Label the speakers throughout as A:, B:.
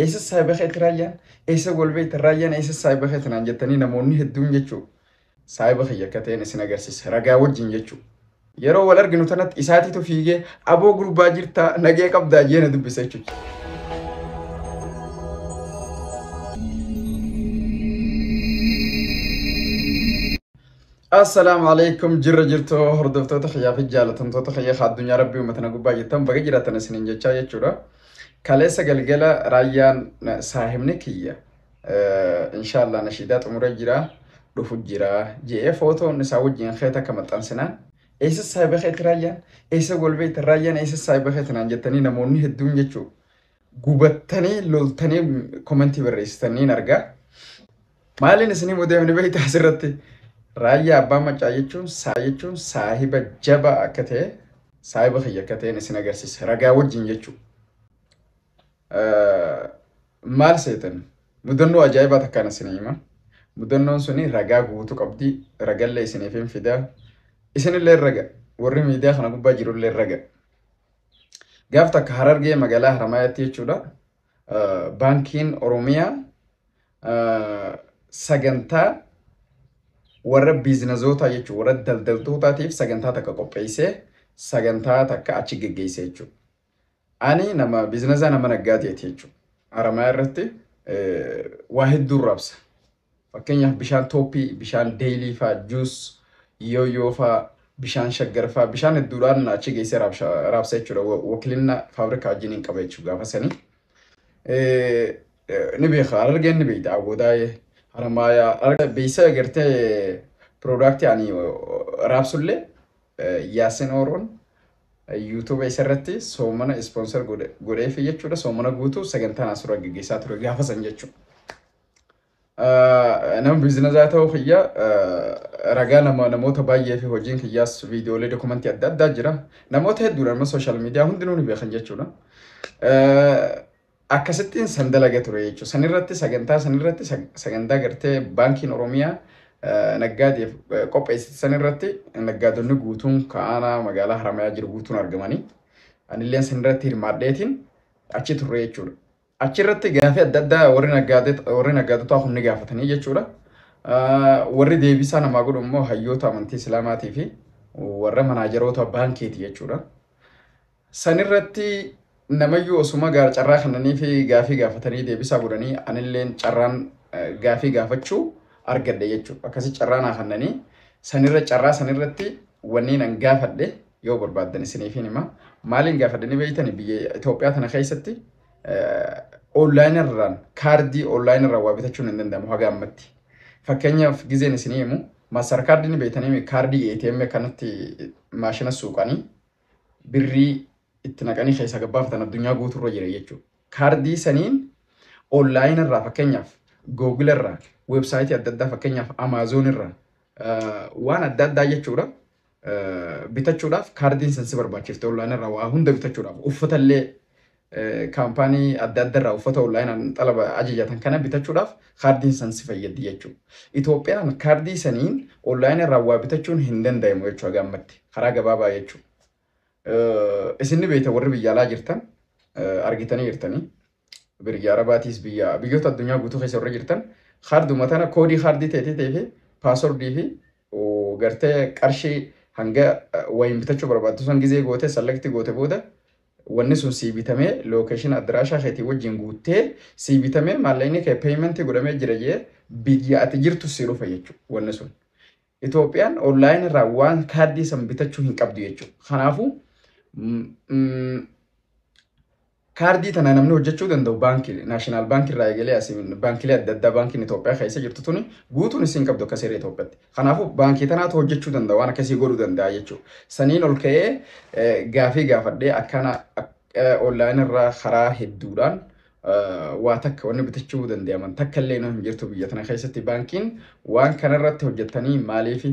A: Eessa saahiba keeti raayyaan? Eessa wal beektan raayyaan eessa saahiba keeti naan jettanii namoonni hedduun jechuu saahiba kiyya akka ta'een isin agarsiisa ragaa wajjin jechuu. Yeroo wal arginu tanatti isaatiitu fiigee aboo gurbaa jirtaa nagee qabdaa jee na dubbisa jechuudha. Assalaamu alaikum jirra jirtu hordoftoota kiyyaa fi jaalatamtoota kiyya addunyaa rabbii uummatana gubbaa jirtan baga jiraatan isiniin jechaa jechuudha. Kaleessa galgala raayyaan saahibni kiyya inshaallah nashiidaa xumuree jira dhufu jira je'ee footoon isaa wajjin kee takka maxxansinaan eessa saahiba keetti raayyaan eessa walbeeyta raayyaan eessa saahiba keetti naan jettanii namoonni hedduun jechuu gubattanii loltanii komentii barreessitaniin argaa. Maaliin isinii mudee ni beektaa asirratti raayyaa abbaa maccaa jechuun saa jechuun saahiba jabaa akka ta'e saahiba kiyya akka ta'een isin agarsiisa ragaa wajjin jechuudha. Maal seetan mudannoo ajaa'ibaa takkaan isin hima mudannoon suni ragaa guutuu qabdi ragallee isiniif hin fidaa isinillee raga warri miidiyaa kana gubbaa jirullee raga gaaf takka harargee magaalaa haramaayatti jechuudha Baankiin Oromiyaa sagantaa warra biizinazootaa jechuun warra daldaltootaatiif sagantaa takka qopheessee sagantaa takka achi geggeessee jechuudha. Ani nama biizinazaa nama naggaateeti jechuudha. Aramaa irratti waa hedduu rabsa. Fakkeenyaaf bishaan tooppii, bishaan deeyilii faa, juus, yooyoo faa, bishaan shaggar faa, bishaan hedduudhaan achi geessee raabsha- raabsa jechuudha. Wa- Wakilinna faabrikaa wajjin hin qaba jechuudha gaafa sanii. Eh, eh, Ni beeka, Harargeen ni beekti, Awwoodaayee, Haramaayaa, Harargee beeksisa agartee piroodaaktii ani raabsullee eh, Yaasin Ooroon yuutuuba isa irratti soomana ispoonsar godheefi jechuudha. Soomana guutuu sagantaan asirra gaggeessaa ture gaafa san jechuudha. Nama biizinazaa ta'uu kiyya ragaa nama namoota baay'ee fi hojiin kiyyaas viidiyoolee dokumentii adda addaa jira. Namoota hedduudha nama sooshaal miidiyaa hundinuu ni beekan jechuudha. Akkasittiin san dalaga ture jechuudha. San irratti sagantaa san irratti sagantaa gartee baankiin Oromiyaa naggaadeef qopheessite san irratti naggaadonni guutuun ka'aanaa magaalaa Haramayaa jiru guutuun argamanii anilleen san irratti hirmaadheetiin achi turre jechuudha. Achirratti gaafii adda addaa warri naggaadota warri naggaadotaa kun ni gaafatanii jechuudha. Ah, Warri deebisaa namaa godhu immoo hayyoota amantii Islaamaatii fi warra manaajaroota baankiiti jechuudha. Sanirratti namayyuu osuma gaar carraa kennanii fi gaafii gaafatanii deebisaa godhanii anilleen carraan eh, gaafii gaafachuu argadhe jechuudha. Akkasi carraa naa kennanii sanirra carraa sanirratti wanni nan gaafadhe yoo barbaaddan isiniifiin hima. Maaliin gaafadhe ni beeytani biyya Itoophiyaa tana keessatti online irraan kaardii online irraan waa bitachuun hin danda'amu haga ammatti. Fakkeenyaaf gizeen isinii himu maastar kaardii ni beeytanii kaardii ATM kanatti maashina suuqanii birrii itti naqanii keessaa gabbaafatan addunyaa guuturra jira jechuudha. Kaardii saniin online irraa fakkeenyaaf Google irraa weebsaayitii adda addaa fakkeenyaaf Amazon irraa waan adda addaa jechuudha. bitachuudhaaf kaardiin san si barbaachifte online irraa waa hunda bitachuudhaaf uffata illee kaampaanii adda adda irraa uffata online xalaba ajajatan kana bitachuudhaaf kaardiin san si fayyaddi jechuudha. Itoophiyaan kaardii saniin online irraa waa bitachuun hin danda'amu jechuudha gaammatti karaa gabaabaa jechuudha. Isin ni beekta warri biyya alaa jirtan argitanii jirtanii. Birya Arabaatiis biyya biyyoota addunyaa guutuu keessa warra jirtan kaarduma tana koodii kaardii teetii teefi paaswordii fi gartee qarshii hanga wayiin bitachuu barbaaddu san gizee gootee sallakti goote booda wanni sun sii bitamee lookeeshin addiraashaa keetii wajjin guuttee sii bitamee maallaqni kee peeyimentii godhamee jira jee biyya ati jirtu sii dhufa jechuudha wanni sun. Itoophiyaan online irraa waan kaardii san bitachuu hin qabdu jechuudha. Kanaafuu kaardii tana namni hojjechuu danda'u baankii naashinaal baankii irraa eegalee asiin baankilee adda addaa baankiin Itoophiyaa keessa jirtu tuni guutuun isiin qabdu akka seera Itoophiyaatti. Kanaafuu baankii tanaatu hojjechuu danda'a waan akkasii godhuu danda'a jechuudha. Saniin ol ka'ee gaafii gaafadhee akkana online irraa karaa hedduudhaan waa takka wanni bitachuu danda'aman takka illee hin jirtu biyya tana keessatti baankiin waan kana irratti hojjettanii maaliif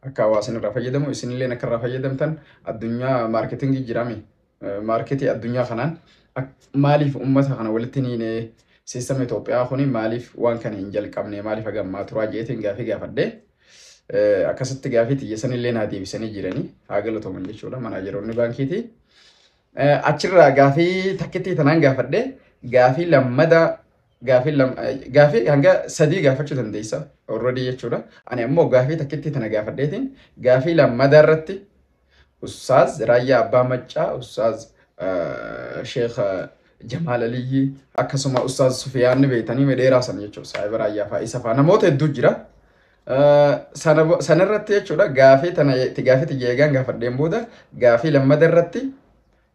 A: akka hawaasni irraa fayyadamu isinillee akka irraa fayyadamtan addunyaa maarketingii jirame maarketii addunyaa kanaan maaliif uummata kana walitti hin hiine siistama Itoophiyaa kun maaliif waan kana hin jalqabne maaliif hagammaa turaa jeetiin gaafii gaafadhee akkasitti gaafii xiyyeessanillee naa deebisanii jiranii haa galatooman jechuudha manaajeroonni baankiitii. Achirraa gaafii takkittii tanaan gaafadhe gaafii lammada gaafii lam, gaafii hanga sadii gaafachuu dandeessa already jechuudha. Ani ammoo gaafii takkittii tana gaafadheetiin gaafii lammada irratti Ustaaz Raayyaa Abbaa Maccaa, Ustaaz Sheekh Jamaal Aliyyii akkasuma Ustaaz Sufiyaan ni beektanii dheeraa san jechuudha. Saahiba Raayyaa fa'aa isa fa'aa namoota hedduu jira. Sana bo- sana irratti jechuudha gaafii tana itti gaafii tiyya eegaan gaafadheen booda gaafii lammada irratti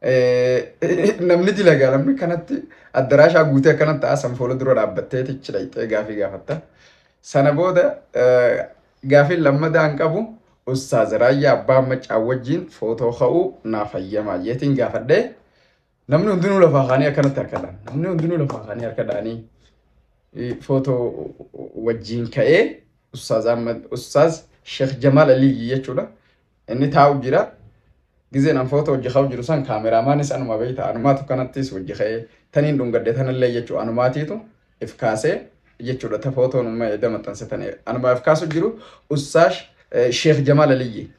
A: eh, namni dilagaa namni kanatti addaraashaa guutee akkanatti haasan fuula dura dhaabbattee tichi dhaqxee gaafii gaafatta. Sana booda eh, gaafiin lammadaan qabu Ustaaz Raayyaa Abbaa Maccaa wajjin footoo ka'uu naaf hayyamaa jeetiin gaafadhee Namni hundinuu lafaa kaanii akkanatti harka dhaana. Namni hundinuu lafaa kaanii harka dhaanii eh, footoo wajjiin ka'ee Ustaaz Ahmad Ustaaz Sheekh Jamaal Aliyyi jechuudha. Inni taa'u jira. Gizeen an footoo hojii ka'u jiru san kaameraamaanis anuma beekta. Anumaatu kanattis hojii ka'ee taniin dhungadde tanallee jechuudha. Anumaatiitu if kaasee jechuudha. Ta footoon umma edda maxxanse tane. Anuma if kaasu jiru Ustaaz eh, Sheekh Jamaal Aliyyi.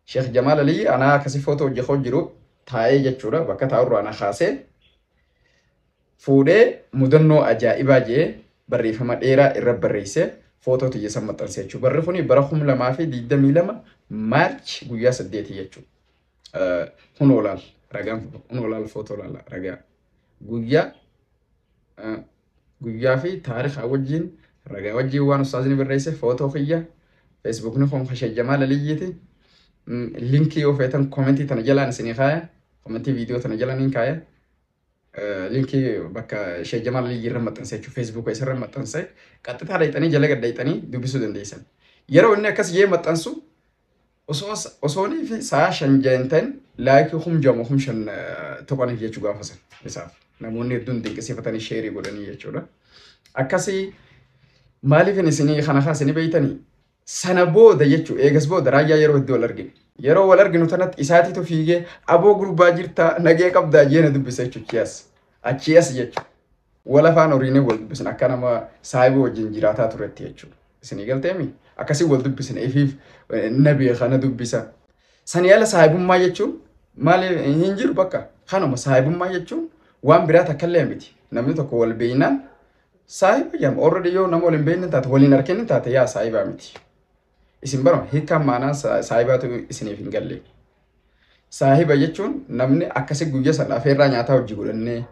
A: Sheekh Jamaal Aliyyi anaa akkasii footoo hojii ka'u jiru taa'ee jechuudha bakka taa'urraa na kaasee fuudhee mudannoo ajaa'ibaa jee barreeffama dheeraa irra barreessee footoo tiyya san maxxansee jechuudha. Barri kuni bara kum lamaa fi digdamii lama maarch guyyaa saddeeti jechuudha. Kun olaal ragaan kun olaal footoo laala ragaa guyyaa Guyyaa fi taarikaa wajjiin ragaa wajjiin waan ustaazni barreesse footoo kiyya feesbuukni kun kan Sheikh Jamaal Aliyyiiti. Mm, Linkii yoo feetan komentii tana jalaan isinii kaaya. Komentii viidiyoo tana jalaan hin kaaya. Eh, Linkii bakka Sheikh Jamaal Aliyyii irra maxxanse jechuun feesbuuka isa irra maxxanse qaxxitaa dhayxanii jala gad dhayxanii dubbisuu dandeessan. Yeroo inni akkas jee maxxansu Osoo osoonii fi sa'a shan jahin ta'in laayikii kum jama kum shan tuqaniif jechuu gaafa san isaaf namoonni hedduun dinqisiifatanii sheerii godhanii jechuudha. Akkasii maaliif isinii kana kan isinii beeytanii sana booda jechuu eegas booda raayyaa yeroo hedduu wal argine. Yeroo wal arginu tanatti isaatiitu fiigee aboo gurbaa jirtaa nagee qabdaa jeena dubbisa jechuudha. Achias jechuudha. Wal afaan horiinee wal dubbisin akka nama saayiboo wajjin jiraataa turetti jechuudha. Isinii galteemi? Akkasii wal dubbisina ifiif na beeka na dubbisa. Sanii ala saayibummaa jechuun maali hin jiru bakka kanuma saayibummaa jechuun waan biraa takkallee miti. Namni tokko wal beeynaan saayiba jedhama. Already yoo nama wal hin beeyne taate waliin harkeen taate yaa saayibaa miti. Isin bara hiikkaan maanaan sa- saahibaatu isiniif hin galle. Saahiba jechuun namni akkasi guyya san afeerraa nyaataa hojii godhannee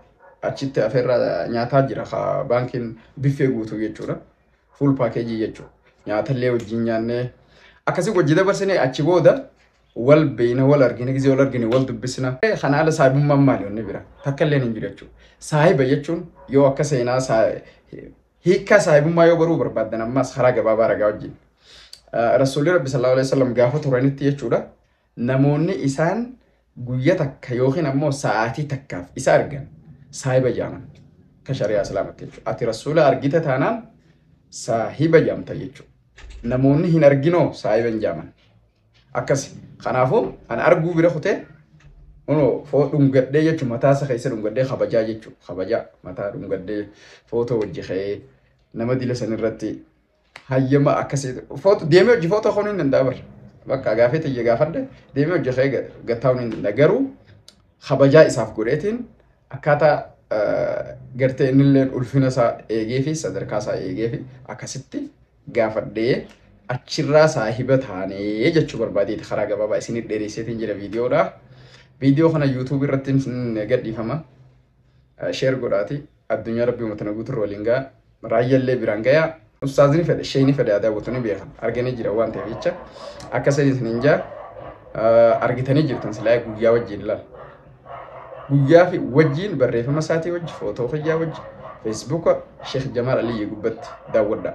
A: achitti afeerraa nyaataa jira ka baankiin biffee guutuu jechuudha. Fuul paakeejii jechuudha. Nyaatallee wajjin nyaannee akkasi wajji dabarsinee achi booda wal beeyna wal argina gisee wal argine wal dubbisna. Kana ala saahibummaan maali wanni bira takka illee hin jiru jechuudha. Saahiba jechuun yoo akka seenaa saa- Hiikkaa saahibummaa yoo baruu barbaaddan ammaas karaa gabaabaa ragaa wajjin. Rasuulli Rabbi sallallahu alaihi wasallam gaafa turanitti jechuudha. Namoonni isaan guyya takka yookiin ammoo sa'aatii takkaaf isa argan saahiba jaaman. Ka shari'aa islaamatti jechuudha. Ati rasuula argita taanaan saahiba jaamta jechuudha. Namoonni hin arginoo saahiba hin jaaman. akkasi kanaafu an arguu bira kutee uno foo dhungadhee jechu mataa isa keessa dhungadhee kabajaa jechu kabajaa mataa dhungadhee footoo wajji ka'ee nama dila san irratti hayyama akkasii footo deemee hojii footoo ka'uu hin danda'a bar bakka gaafee tiyya gaafadhe deemee hojii ka'ee gattaa'uu hin danda'a garuu kabajaa isaaf godheetiin akkaataa gartee innilleen ulfina isaa eegee fi sadarkaa isaa eegee fi akkasitti gaafadhee achirraa saahiba taanee jechuu barbaadeeti karaa gabaabaa isinit dheeresseetiin jira viidiyoodha. Viidiyoo kana YouTube irratti gadhiifama. Sheer godhaati addunyaa rabbii uummatana guuturra waliin ga'a. Raayyallee biraan gayaa. Ustaazni fedhe sheeyni fedhe aadaa butanii beekan arganii jira waan ta'eef jecha akka sanii isiniin jaa argitanii jirtan silaa guyyaa wajjin ilaala. guyyaa fi wajjiin barreeffama isaatii wajji footoo fayyaa wajji feesbuuka Sheekh Jamaal Aliyyii gubbatti daawwadhaa.